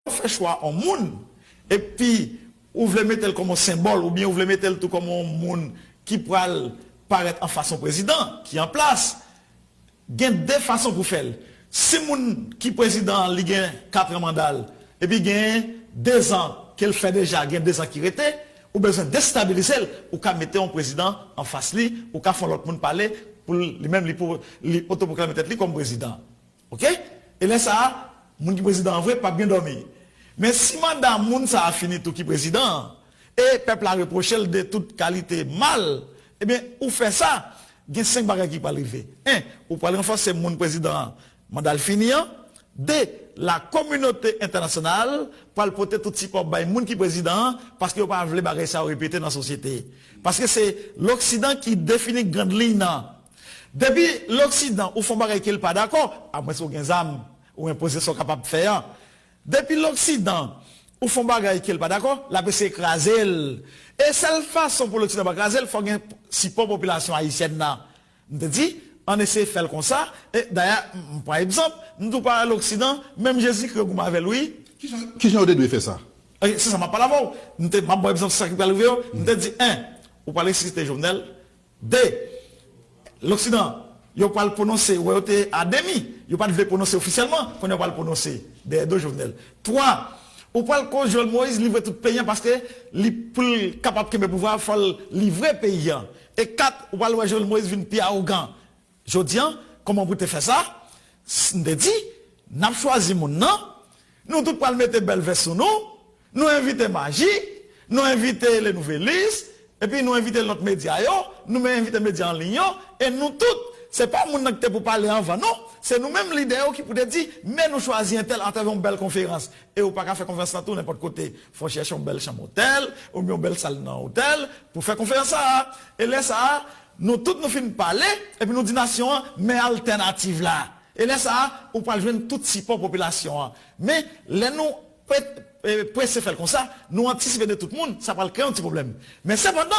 Ou fè chwa on moun, epi ou vle mete l kòm on senbòl, oubyen ou vle mete l tou kòm on moun ki pral parèt anfas on prezidan ki an plas, gen de fason pou fè l. Si moun ki prezidan an li gen katran manda l, epi gen dezan ke l fè deja, gen dezan ki rete, ou bezwen destabilize l, ou ka mete on prezidan anfas li, ou ka fè on lòt moun pale pou li menm li otopwoklame tèt li kòm prezidan. Ok e lè sa a moun ki prezidan an vre pap gen dòmi men si manda moun sa a fini tou ki prezidan an e pèp la repwoche l de tout kalite mal ebyen ou fè sa gen 5 bagay ki pral rive 1 ou pral ranfòse moun prezidan an manda l fini an 2 la kominote entènasyonal pral pote tout sipò bay moun ki prezidan an paske yo pa vle bagay sa yo repete nan sosyete paske se loksidan ki defini grand liy nan Depi loksidan ou fon bagay kel pa dakò, a mwens ou gen zam, ou enpoze sa w kapab fè an. Depi loksidan ou fon bagay kel pa dakò, lap eseye kraze l. E sèl fason pou loksidan pa kraze l fò gen sipò popilasyon ayisyèn nan. M te di, ann eseye fè l konsa, e dayè m pran egzanp, m di w pa wè loksidan, menm Jezikri yo goumen avè l wi. Ki jan yo te dwe fè sa? Se sa map pale avè w. M te, map ba w egzanp sa ki pral rive yo. M te di 1, ou pral resusite Jovenel, 2, Loksidan, yo pral pwononse wè yo te a demi, yo pat vle pwononse ofisyèlman, kounye a yo pral pwononse dèyè do Jovenel. 3, Ou pral koz Joel Moïse livre tout peyi an paske li poul kapab kenbe pouvwa a fòl livre peyi an. E 4, Ou pral wè Joel Moïse vin pi arogan. Jodi an, kòman pou te fè sa? S, M te di, N ap chwazi moun nan, nou tout pral mete bèl vès sou nou, nou envite Majik, nou envite Le Nouvelliste, epi nou envite lòt medya yo, nou men envite medya an liy yo, e nou tout, se pa moun nan ki te pou pale anvan non, se nou menm lidè yo ki pou te di, Men nou chwazi entèl atravè yon bèl konferans. E ou pa ka fè konferans la tou nenpòt kote. Fò w chèche yon bèl chanm otèl, oubyen yon bèl sal nan otèl, pou fè konferans sa a. E lè sa a, Nou tout nou fin pale epi nou di nasyon an men altènativ la. E lè sa a, ou pral jwenn tout sipò popilasyon an. Men, lè nou prese fè l konsa, nou antisipe de tout moun, sa pral kreye yon ti pwoblèm. Men sepandan.